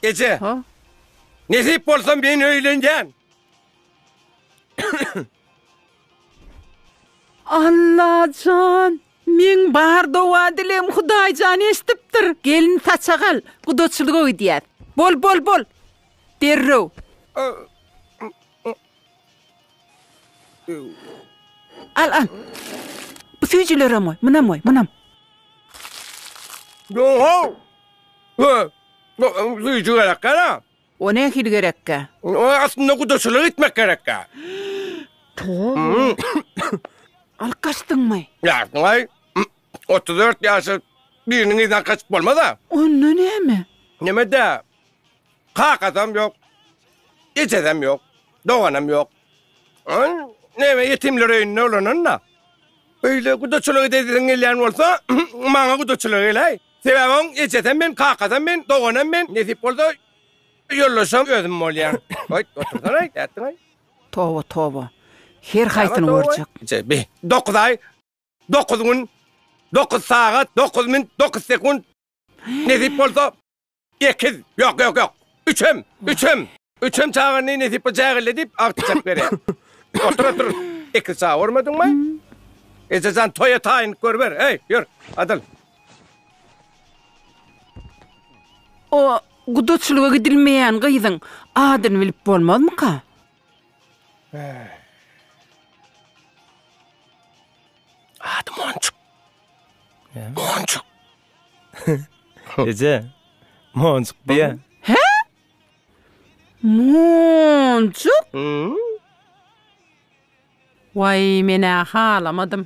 Eje. Ha? Nesip bolsa men öýlenýän. Allajan! Meň bar dowa-dilem Hudaýjan eşdipdir. Gelin saçak al, gudaçylyga gidýäs. Bol, bol, bol! Derrew! Al, al. Bu süýjülerem goý, munam goý, munam. Ýo-ow! Hö, bu süýji gerekkä-dä. O nähili gerekkä? O aslynda gudaçylyk etmek gerekkä. Toba! Alyp gaçdyňmy? Ýaşdyň-aý. Otuz dört ýaşly biriniň yzyndan gaçyp bolmaz-a. Onda näme? Näme-dä? Kakasam ýok. Ejesem ýok. Doganam ýok. Ol näme ýetimler öýünde ulanan-da. Öýde gudaçylyk edesiň gelýän bolsa, maňa gudaçylyk eläý. Sebäbi oň ejesem men, kakasam men, doganam men, nesip bolsa, ýoldaşam özüm bolýan. Goý, otursana-aý, nätdiň-aý? Toba, toba. Her haýsyny görjek. Bi, dokuz aý, dokuz gün, dokuz sagat, dokuz minut, dokuz sekunt, nesip bolsa, Ekiz, ýok, ýok, ýok. Üçem, üçem. Üçem çaga ne nesip bu jägille diýip agtyjak berýär. Otur, otur. Ekiz çaga görmediňmi? Ejejan toýa taýynlyk görüber. Heý, ýör, adyl. O gudaçylyga gidilmeýän gyzyň adyny bilip bolmazmyka? Ady Monjuk. Monjuk. Eje, monjuk diýä. Hä? Monjuk? Waý, men-ä halamadym.